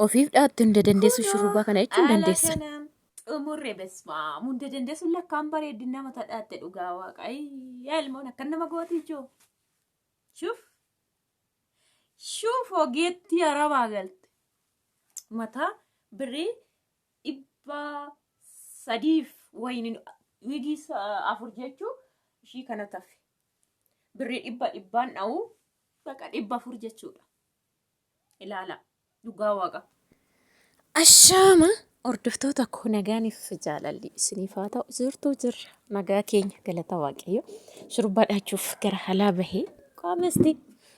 Ofiif dhaattu hunda dandeessu shurrubbaa kana jechuun dandeessa. Xumurre besmaam hunda dandeessu lakkaan bareeddi nama tadhaatte dhugaa waaqa. Ayyaa ilmoon akka nama gooti ijoo. Shuf. Shuf ogeettii arabaa galte. Mataa birrii dhibba sadiif wayiniin wiigii afur jechuu ishii kana tafe. Birrii dhibba dhibbaan dha'uu baqa dhibba afur jechuudha. ilaala dhugaa waaqa. Ashaama hordoftoota koo nagaaniif jaalalli isiniif haa ta'u jirtuu jirra nagaa keenya galata waaqayyo shurbaa dhaachuuf gara halaa bahee qaamasti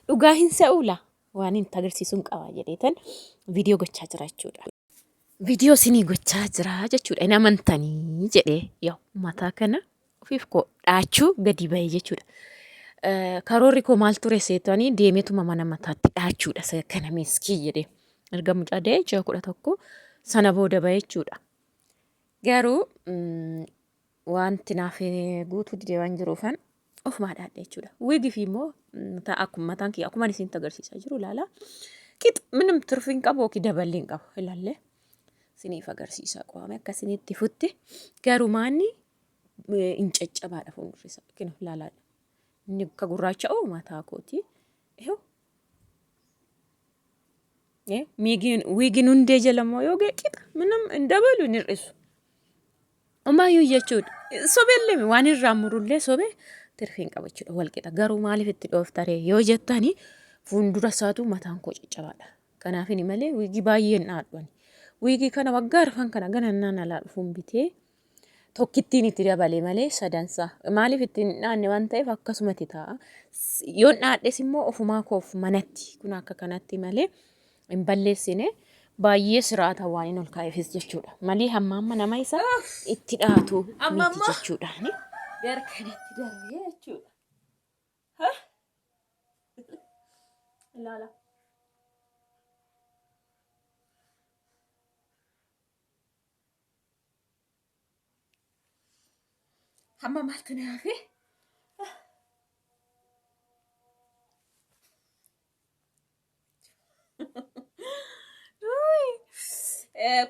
dhugaa hin sa'uula waan hin tagarsiisuun qabaa jedheetan viidiyoo gochaa jira jechuudha. Viidiyoo isinii gochaa jira jechuudha hin amantanii jedhee yoo mataa kana ofiif koo dhaachuu gadi ba'e jechuudha. Karoorri koo maal ture seetanii deemetuma mana mataatti dhaachuudha isa kana miskii jedhee. Erga mucaa da'ee ji'a kudha tokko sana booda ba'e jechuudha. Garuu wanti naaf guutuu didee waan jiruufan ofumaa dhaadhe jechuudha. Wigifi immoo akkuma mataan kiyya akkuma isin agarsiisaa jiru ilaala. Qix minim turfi hin qabu yookiin daballi hin qabu ilaallee isiniif agarsiisaa qo'ame akka isinitti futti garumaanni hin caccabaadha fuuldurri isaa yookiin laalaadha. Inni akka gurraacha'u mataa kooti. Ihu miigiin wiigiin hundee jala immoo yoo ga'e qixa minam hin dabalu hin hir'isu. Ammayyuu jechuudha. Sobeellee waan irraa murullee sobee tirfii hin qabu jechuudha wal qixa. Garuu maaliif itti dhooftaree yoo jettani fuuldura isaatu mataan koo caccabaadha. Kanaafini malee wiigii baay'een dhaadhuani. Wiigii kana waggaa arfan kana ganannaan alaa dhufuun bitee tokkittiin itti dabale malee sadansaa maaliif ittiin hin dhaanne waan ta'eef akkasumatti ta'a. Yoon dhaadhes immoo ofumaa koof manatti kun akka kanatti malee hin balleessine baay'ee siraata waan hin ol kaa'eefis jechuudha. Malee hamma amma nama isa itti dhaatu miti jechuudha. Gara kanatti darbee jechuudha. Ilaala. Amma maaltu na hafe?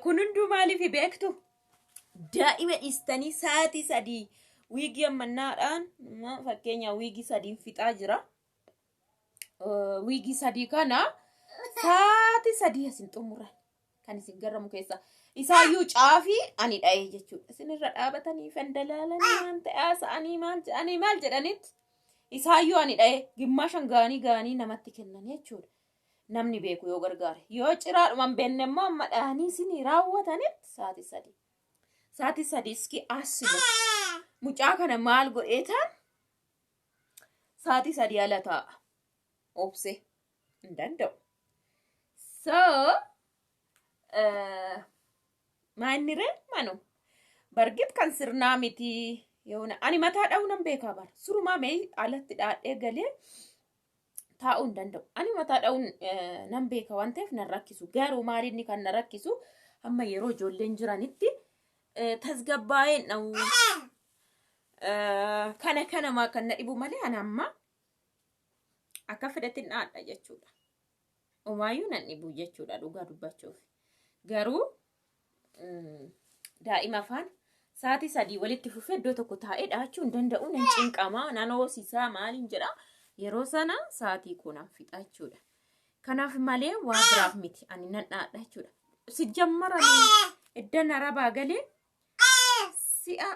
Kun hunduu maaliif beektu? Daa'ima dhiistanii sa'aatii sadii wiigii ammannaadhaan fakkeenyaaf wiigii sadiin fixaa jira. wiigii sadii kana saati sadii isin xumuran kan isin garramu keessa isaayyuu caafii ani dha'ee jechuudha isinirra dhaabatanii kan dalaalan waan ta'aa sa'anii maal jedhanii maal jedhanitti isaayyuu ani dha'ee gimmaashan gaanii gaanii namatti kennan jechuudha namni beeku yoo gargaare yoo ciraadhuman beenne immoo amma dha'anii isinii raawwatanitti saati sadii saati sadii iski asuma mucaa kana maal godheetaan Saatii sadii ala taa'a. Obse hin danda'u. So maanni ree manu bargit kan sirnaa miti yoona ani mataa dha'uu nan beekaa bara surumaa mee alatti dhaadhee galee taa'uu hin danda'u. Ani mataa dha'uu nan beeka waan ta'eef nan rakkisu garuu maal inni kan na rakkisu amma yeroo ijoolleen jiranitti tasgabbaa'een dha'uu Kana kana maa kan na dhibu malee ana amma akka fedhetti dhaadha jechuudha. Umaayyuu nan dhibu jechuudha dhugaa dubbachuuf. Garuu daa'ima afaan sa'aatii sadii walitti fufee iddoo tokko taa'ee dhaachuu hin danda'u nan cinqama nan hoosisaa maaliin jedha yeroo sana sa'aatii kuunaan fixa jechuudha. Kanaaf malee waa biraaf miti ani nan dhaadha jechuudha. Sijjammaranii iddan arabaa galee si'a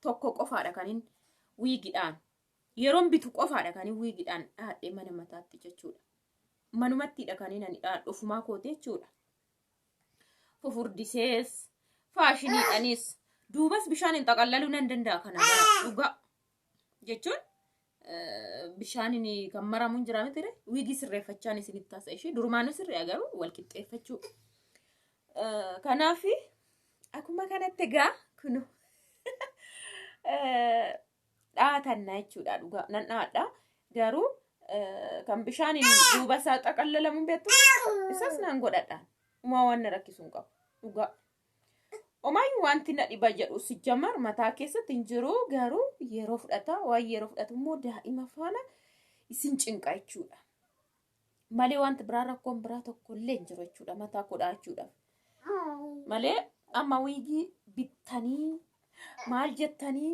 tokko qofaadha kanin wiigidhaan yeroon bitu qofaadha kanin wiigidhaan dhaadhee mana mataatti jechuudha. Manumattiidha kanin ani dhaadhu ofumaa kooti jechuudha. Fufurdisees faashiniidhanis duubas bishaan hin xaqallaluu nan danda'a kana gara dhugaa. jechuun bishaaniin kan maramuun jira miti ree wiigii sirreeffachaan isinitti taasa ishee durumaanuu sirrii agaruu wal qixxeeffachuu kanaaf akkuma kanatti egaa kunu dhaatanna jechuudha dhugaa nan dhaadha garuu kan bishaaniin duuba isaa xaqallalamuun beektu isas nan godhadha umaa waan na rakkisuun qabu dhugaa. Omaayyu wanti na dhiba jedhu sijjamar mataa keessatti hin jiru garuu yeroo fudhata waan yeroo fudhatu immoo daa'ima faana isin cinqa jechuudha. Malee wanti biraa rakkoon biraa tokko illee hin jiru jechuudha mataa kudhaa jechuudha. Malee amma wiigii bittanii maal jettanii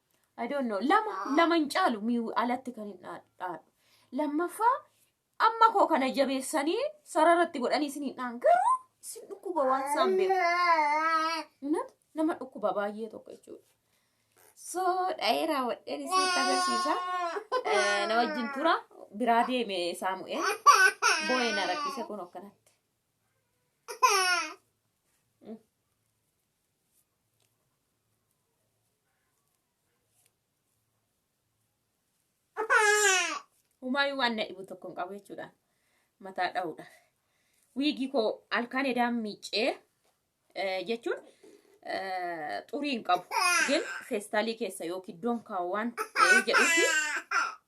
I don't know. Lama lama hin caalu mi'u alatti kan hin dhaa- dhaadhu. Lammaffaa amma koo kana jabeessanii sararatti godhanii isin hin dhaan garuu isin dhukkuba waan isaan beeku. Innat nama dhukkuba baay'ee tokko jechuudha. So dha'ee raawwadheen isinitti agarsiisa. Eh, Na wajjin tura biraa deeme saamu'ee boo'ee na rakkise kun akkanatti. Humaayyuu waan na dhibu tokko hin qabu jechuudha. Mataa dha'uudha. Wiigii koo halkan edaan miicee jechuun xurii hin qabu. Gin feestaalii keessa yookiin iddoon kaawwaan jedhuufi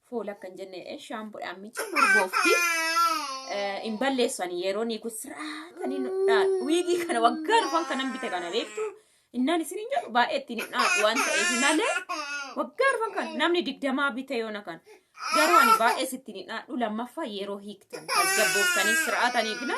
Fool akka hin jenne eh, shaampuudhaan miichan urgoofti. Eh, Hin balleessu ani yeroo ni kun sirraatanii nu dhaadhu. Wiigii kana waggaa dhufan kanan bite kana beektu. Innaan isin hin jedhu baay'ee ittiin hin dhaadhu waan ta'eef malee waggaa dhufan kan namni digdamaa bite yoona kan. Garuu ani baay'ee sittiin hin dhaadhu lammaffaa yeroo hiiktan tasgabbooftanii sirraatanii gina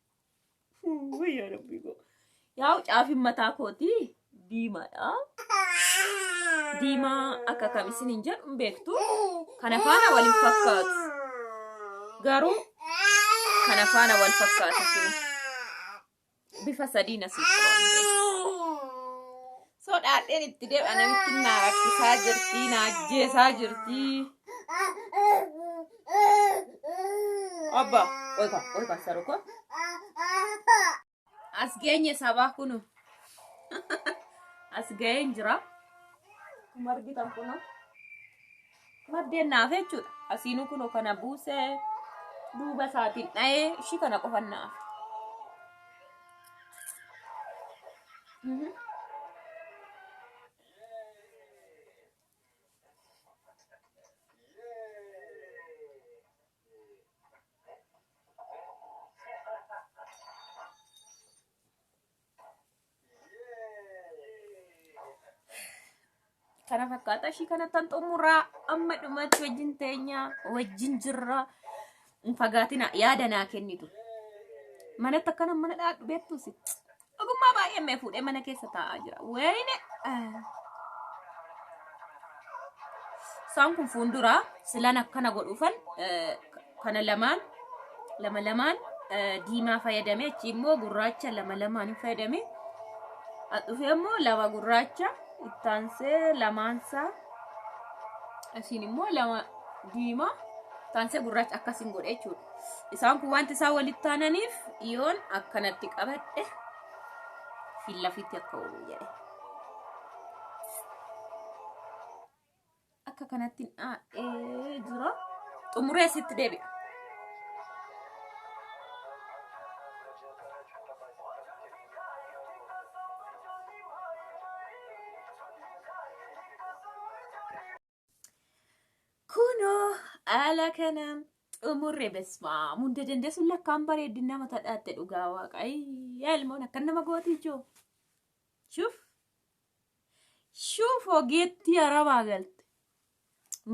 Wuy yaa rabbii koo. Yaa caafin mataa kooti diimaadha. Diimaa akka kam isin hin jedhu hin beektu. Kana faana wal hin fakkaatu. Garuu kana faana wal fakkaatu jiru. Bifa sadiin asii qabu. Sodaadheen itti deema namittiin naa rakkisaa jirtii naa ajjeesaa jirtii. Obbo olfa olfa saruko. As geenye sabaa kunu. As ga'een jira. Akkuma argitan kunu. Maddeen naaf jechuudha. Asiinuu kunoo kana buusee duuba isaatiin dha'ee ishii kana qofan naaf. kana fakkaata ishii kana tan xumuraa amma dhumatti wajjin teenya wajjin jirra hin fagaatina yaada naa kennitu manatti akkana mana dhaadhu beektus ogummaa baay'ee mee fuudhee mana keessa taa'aa jira wayine isaan kun fuulduraa silan akkana godhuufan kana lamaan lama lamaan eh, diimaa fayyadame achi immoo gurraacha lama lamaan hin fayyadame dhufe immoo lama gurraacha ittaansee lamaansaa asiin immoo lama diimaa ittaansee gurraacha akkasiin godhe jechuudha isaan kun wanti isaan walitti taananiif yoon akkanatti qabadhe fillafitti akka oolu jedhe akka kanatti dhaa'ee jira xumuree sitti deebi'a. Kunoo haala kanaan xumurre besmaa hunda dandeessuun lakkaan bareeddin nama tadhaatte dhugaa waaqayyo ilmoon akka nama gootii joo. Shuuf. Shuuf ogeettii arabaa galte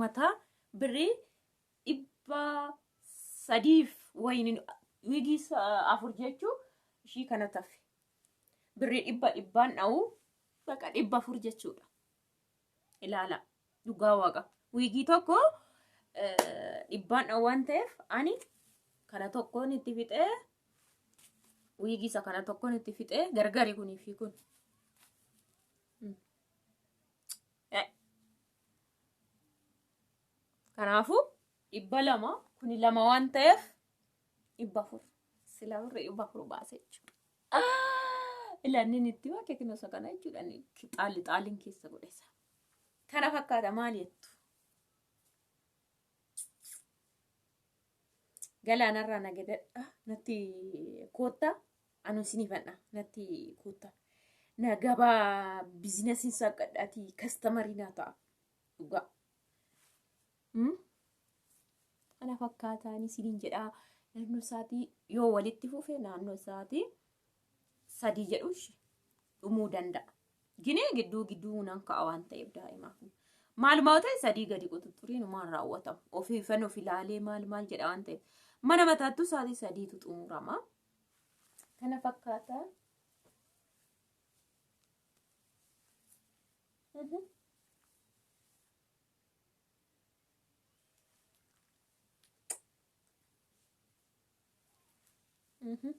mataa birrii dhibba sadiif wayini wiigii sa- afur jechuu ishii kana tafe birrii dhibba dhibbaan dha'uu baqa dhibba afur jechuudha ilaala Dhugaa waaqa. Wiigii tokko dhibbaan dha waan ta'eef ani kana tokkoon itti fixee wiigii isa kana tokkoon itti fixee gargari kunii fi kun. Kanaafuu dhibba lama kuni lama waan ta'eef dhibba afur sila birri dhibba afur baase jechuudha. Ilannin itti waa keekinosa kana jechuudha. Xaali xaaliin keessa godhesa. Kana fakkaata maal jettu? Galaanarraa na gedadha natti kootta anu isinii fannaa natti kootta. Na gabaa bizinasiin saaqadhaati kastamarii naa ta'a. Dhugaa. Mm? Kana fakkaataan isiniin jedhaa naannoo isaatii yoo walitti fufe naannoo isaatii sadii jedhu ishi dhumuu danda'a. Ginee gidduu gidduu nan ka'a waan ta'eef daa'imaaf. Maalumaa ta'e sadii gadi quxuxuriin maal raawwatamu. Ofii ifan of ilaalee maal maal jedha waan ta'eef. Mana mataattuu sa'aatii sadiitu xumurama. Kana fakkaata. Mhm. Mhm.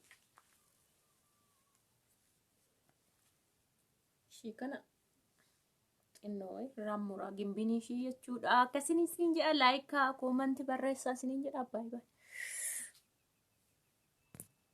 Ishii kana xinnoo wayi irraan muraa gimbinii ishii jechuudha. Akkasiin isin jedha laayikaa koomanti barreessaa isiniin jedha baay'ee.